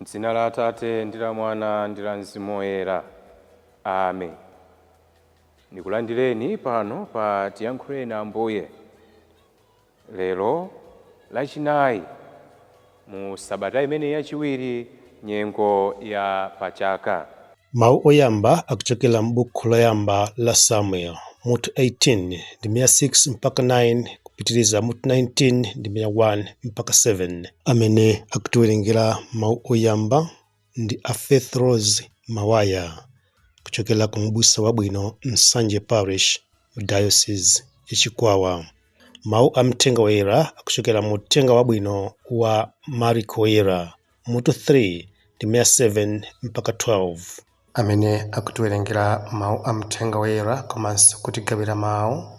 M'dzina la Atate ndi la Mwana ndi la Mzimu Woyera. Amen. Ndikulandireni pano pa tiyankhuleni Ambuye. Lero, Lachinayi mu sabata imene yachiwiri nyengo ya pa chaka. Mawu oyamba akuchokera m'Bukhu Loyamba la Samueli, mutu 18, ndime ya 6 mpaka 9, kupitiriza mutu 19, ndime ya 1 mpaka 7, amene akutiwerengera mawu oyamba, ndi a Faith Rose Mawaya kuchokera ku Mbusa Wabwino Nsanje Parish mu Diocese ya Chikwawa. Mawu a Mthenga Woyera akuchokera mu Uthenga Wabwino wa Marko Woyera mutu 3 ndime ya 7 mpaka 12. Amene akutiwerengera Mawu a Mthenga Woyera komanso kutigawira mawu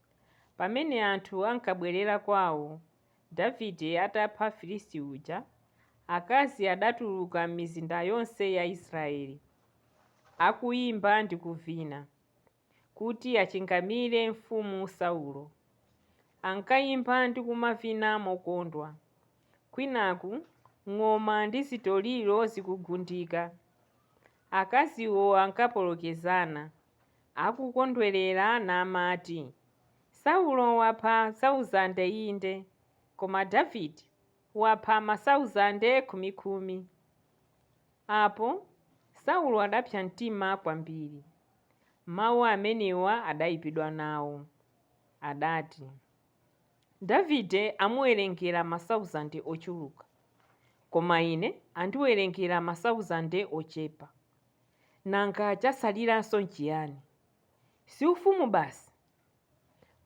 Pamene anthu ankabwerera kwawo, Davide atapha Mfilisti uja, akazi adatuluka m'mizinda yonse ya Israele, akuimba ndi kuvina, kuti achingamire mfumu Saulo. Ankaimba ndi kumavina mokondwa, kwinaku ng'oma ndi zitoliro zikugundika. Akaziwo ankapolokezana. akukondwerera namati, Saulo wapha sauzande inde, koma Davide wapha masauzande khumikhumi. Apo Saulo adapsa mtima kwambiri. Mau amenewa adaipidwa nawo. Adati, Davide amuwerengera masauzande ochuluka, koma ine andiwerengera masauzande ochepa. Nanga chatsaliranso n'chiyani? Si ufumu basi?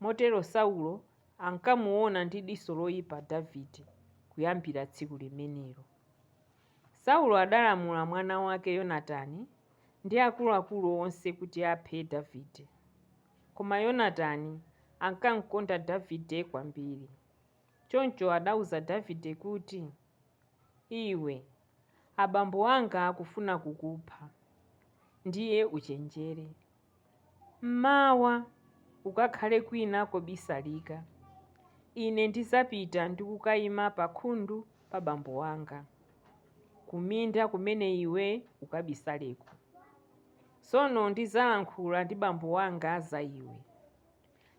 Motero Saulo ankamuona ndi diso loipa Davide kuyambira tsiku limenelo. Saulo adalamula mwana wake Yonatani ndi akuluakulu onse kuti aphe Davide. Koma Yonatani ankamkonda Davide kwambiri. Choncho adauza Davide kuti, Iwe Abambo anga akufuna kukupha. Ndiye uchenjere. M'mawa ukakhale kwina kobisalika. Ine ndidzapita ndi kukaima pakhundu pa bambo anga, kuminda kumene iwe ukabisaleko. Tsono ndidzalankhula ndi bambo anga za iwe.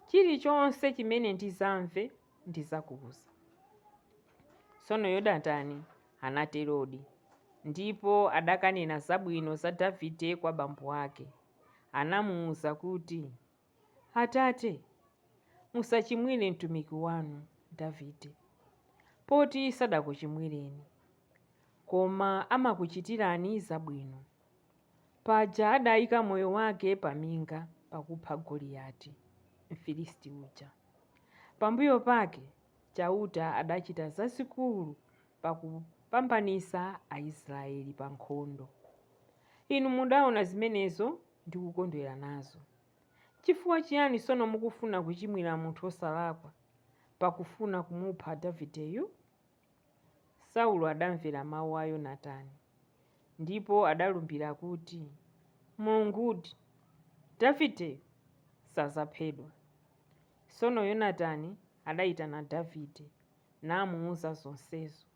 Chilichonse chimene ndidzamve Ndidzakuuza. Tsono Yonatani anaterodi, ndipo adakanena zabwino za Davide kwa bambo ake. Anamuuza kuti, Atate, musachimwire mtumiki wanu Davide, poti sadakuchimwireni, koma amakuchitirani zabwino. Paja adaika moyo wake pa minga pakupha Goliyati, Mfilisti uja. Pambuyo pake Chauta adachita zazikulu pakupambanitsa Aisraeli pa nkhondo. Inu mudaona zimenezo ndi kukondwera nazo. Chifukwa chiyani tsono mukufuna kuchimwira munthu wosalakwa, pakufuna kumupha Davideyu? Saulo adamvera mawu a Yonatani, ndipo adalumbira kuti, Mulungudi, Davideyo sadzaphedwa. Tsono Yonatani adaitana Davide namuuza zonsezo.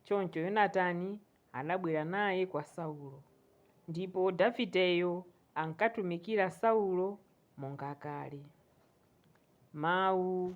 Choncho Yonatani adabwera naye kwa Saulo, ndipo Davideyo ankatumikira Saulo monga kale. Mawu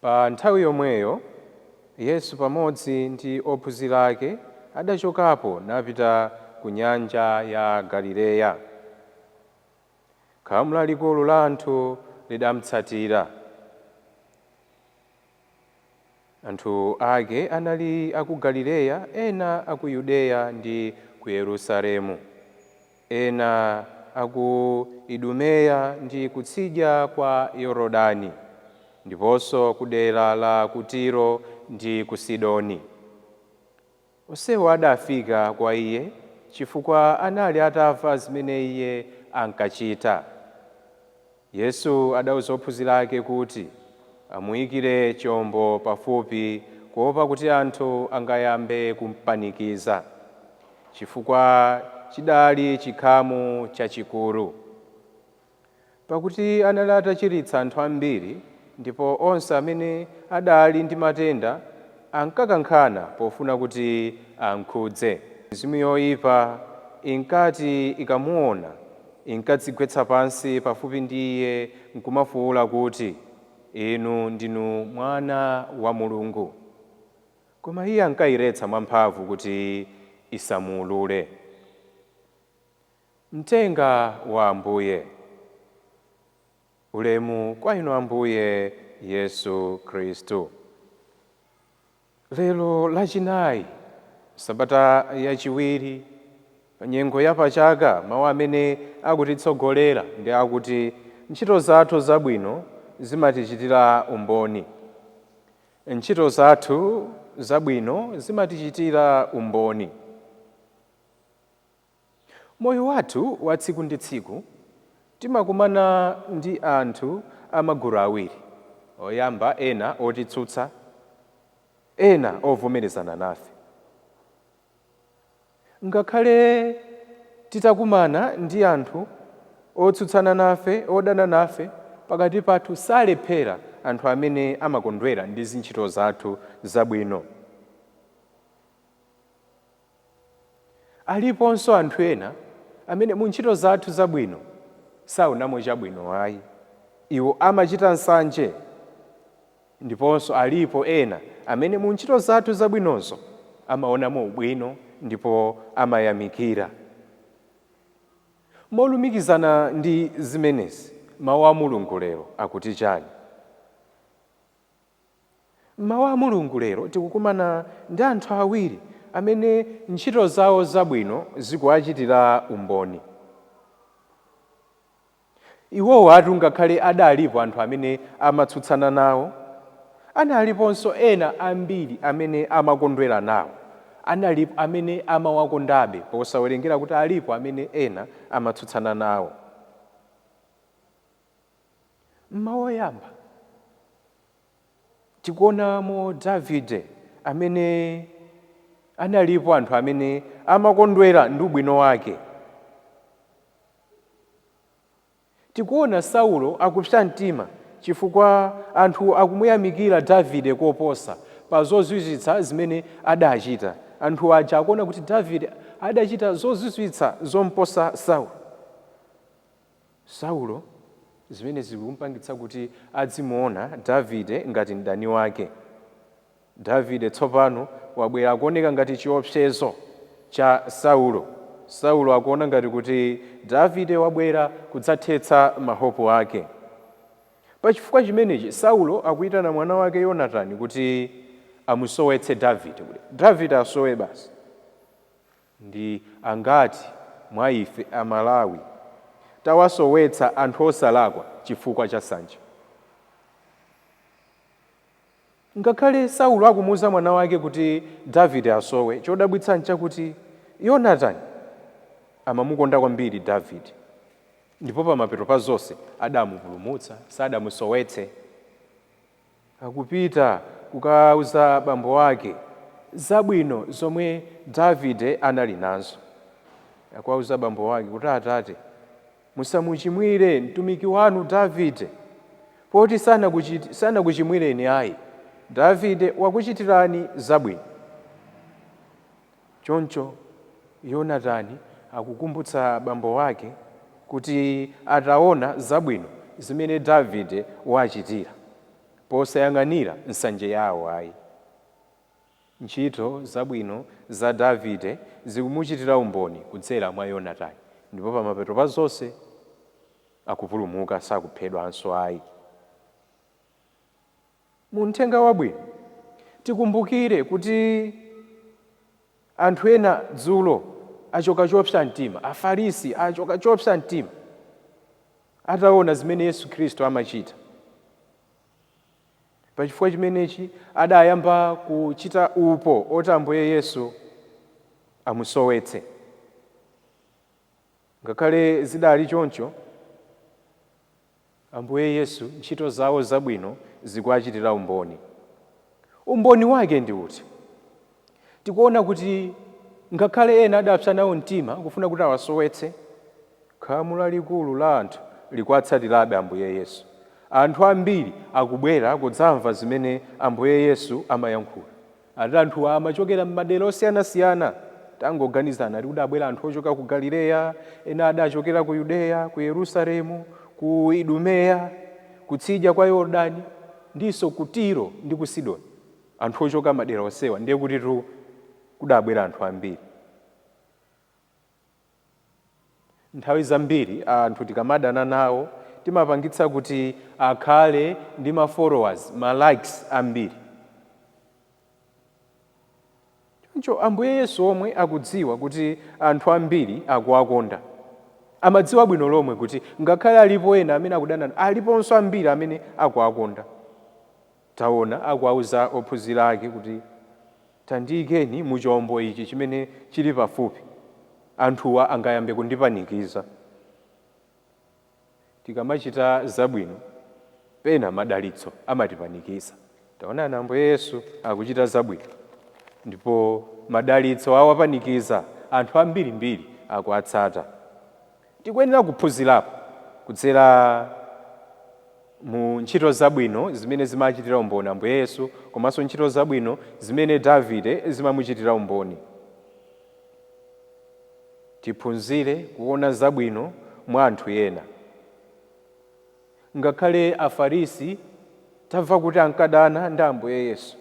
Pa nthawi yomweyo, Yesu pamodzi ndi ophunzira ake adachokapo napita ku nyanja ya Galileya. Khamu lalikulu la anthu lidamutsatira. Anthu ake anali a ku Galileya, ena a ku Yudeya ndi ku Yerusalemu. Ena a ku Idumeya ndi kutsidya kwa Yorodani, ndiponso kudera la ku Tiro ndi ku Sidoni. Onsewo adafika kwa iye chifukwa anali atamva zimene iye ankachita. Yesu adauza ophunzira ake kuti amuikire chombo pafupi kuopa kuti anthu angayambe kumpanikiza, chifukwa chidali chikhamu chachikulu. Pakuti anali atachiritsa anthu ambiri Ndipo onse amene adali ndi matenda ankakankhana pofuna kuti amkhudze. Mizimu yoipa inkati ikamuwona, inkadzigwetsa pansi pafupi ndi Iye nkumafuwula kuti, Inu ndinu Mwana wa Mulungu. Koma Iye ankailetsa mwamphamvu kuti isamuulule. Mthenga wa Ambuye. Ulemu kwa Inu Ambuye Yesu Khristu. Lero Lachinayi, m'sabata yachiwiri, pa nyengo ya pa chaka, mawu amene akutitsogolera ndi akuti, Ntchito zathu zabwino zimatichitira umboni. Ntchito zathu zabwino zimatichitira umboni. Moyo wathu wa tsiku ndi tsiku timakumana ndi anthu a magulu awiri oyamba ena otitsutsa ena ovomerezana nafe. Ngakhale titakumana ndi anthu otsutsana nafe, odana nafe, pakati pathu salephera anthu amene amakondwera ndi zintchito zathu zabwino. Aliponso anthu ena amene mu ntchito zathu zabwino saonamo chabwino ayi. Iwo amachita nsanje. Ndiponso alipo ena amene mu ntchito zathu zabwinozo amaonamo ubwino ndipo amayamikira. Molumikizana ndi zimenezi, Mawu a Mulungu lero akuti chani? M'mawu a Mulungu lero tikukumana ndi anthu awiri amene ntchito zawo zabwino zikuwachitira umboni. Iwowatu ngakhale adalipo anthu amene amatsutsana nawo, analiponso ena ambiri amene amakondwera nawo, analipo amene amawakondabe posawerengera kuti alipo amene ena amatsutsana nawo. M'mawu oyamba, tikuonamo Davide amene analipo anthu amene amakondwera ndi ubwino wake. Tikuona Saulo akupsa mtima chifukwa anthu akumuyamikira Davide koposa pa zozizwitsa zimene adachita. Anthu aja akuona kuti Davide adachita zozizwitsa zomposa Saulo. Saulo, zimenezi zikum'pangitsa kuti adzimuona Davide ngati mdani wake. Davide tsopano wabwera akuoneka ngati chiopsezo cha Saulo. Saulo akuona ngati kuti Davide wabwera kudzathetsa mahopu ake. Pa chifukwa chimenechi, Saulo akuitana mwana wake Yonatani kuti amusowetse Davide, kuti Davide asowe basi. Ndi angati mwa ife a Malawi tawasowetsa anthu osalakwa chifukwa cha nsanje? Ngakhale Saulo akumuuza mwana wake kuti Davide asowe, chodabwitsa nchakuti Yonatani amamukonda kwambiri Davide ndipo pamapeto pa zonse adamupulumutsa, sadamusowetse. akupita kukauza bambo wake zabwino zomwe Davide anali nazo. Akuwauza bambo wake kuti, Atate, musamuchimwire mtumiki wanu Davide, poti sanakuchimwireni ayi. Davide wakuchitirani zabwino. Choncho Yonatani akukumbutsa bambo wake kuti ataona zabwino zimene Davide wachitira posayang'anira nsanje yawo ayi, ntchito zabwino za Davide zikumuchitira umboni kudzera mwa Yonatani ndipo pamapeto pa zonse akupulumuka, sakuphedwanso ayi. Mu Mthenga Wabwino, tikumbukire kuti anthu ena dzulo achoka chopsa mtima, Afarisi achoka chopsa mtima ataona zimene Yesu Khristu amachita. Pachifukwa chimenechi adayamba kuchita upo oti Ambuye Yesu amusowetse. Ngakhale zidali choncho, Ambuye Yesu, ntchito zawo zabwino zikuwachitira umboni. Umboni wake ndi uti? Tikuona kuti ngakhale ena adapsa nawo mtima kufuna kuti awasowetse, khamu lalikulu la anthu likuwatsatirabe Ambuye Yesu. Anthu ambiri akubwera kudzamva zimene Ambuye Yesu amayankhula. Ati anthuwa amachokera m'madera osiyanasiyana, tangoganizani, ati kudabwera anthu ochoka ku Galileya, ena adachokera ku Yudeya, ku Yerusalemu, ku Idumeya, kutsidya kwa Yordani, ndinso ku Tiro ndi ku Sidoni. Anthu ochoka madera onsewa ndiye kutitu kudabwera anthu ambiri. Nthawi zambiri anthu tikamadana nawo timapangitsa kuti akhale ndi ma followers, ma likes ambiri. Choncho Ambuye Yesu omwe akudziwa kuti anthu ambiri akuwakonda, amadziwa bwino lomwe kuti ngakhale alipo ena amene akudana, aliponso ambiri amene akuwakonda. Taona, akuwauza ophunzira ake kuti, Tandiikeni mu chombo ichi chimene chili pafupi, anthuwa angayambe kundipanikiza tikamachita zabwino, pena madalitso amatipanikiza. Taonani, Ambuye Yesu akuchita zabwino, ndipo madalitso awapanikiza, anthu ambirimbiri akuwatsata. Tikuyenera kuphunzirapo kudzera mu ntchito zabwino zimene zimachitira umboni Ambuye Yesu komanso ntchito zabwino zimene Davide zimamuchitira umboni. Tiphunzire kuona zabwino mwa anthu ena. Ngakhale Afarisi tamva kuti ankadana ndi Ambuye Yesu,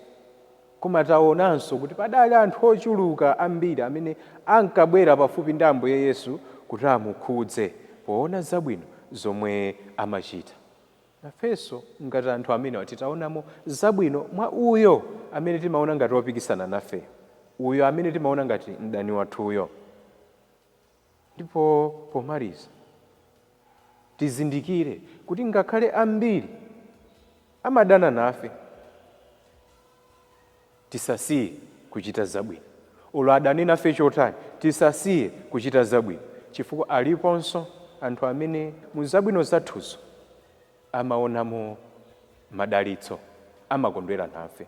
koma taonanso kuti padali anthu ochuluka ambiri amene ankabwera pafupi ndi Ambuye Yesu kuti amukhudze poona zabwino zomwe amachita. Nafenso ngati anthu amenewa titaonamo zabwino mwa uyo amene timaona ngati opikisana nafe, uyo amene timaona ngati mdani wathuyo, Ndipo pomaliza, tizindikire kuti ngakhale ambiri amadana nafe, tisasiye kuchita zabwino. Olo adane nafe chotani, tisasiye kuchita zabwino chifukwa aliponso anthu amene mu zabwino zathuzo amaonamo madalitso, amakondwera nafe.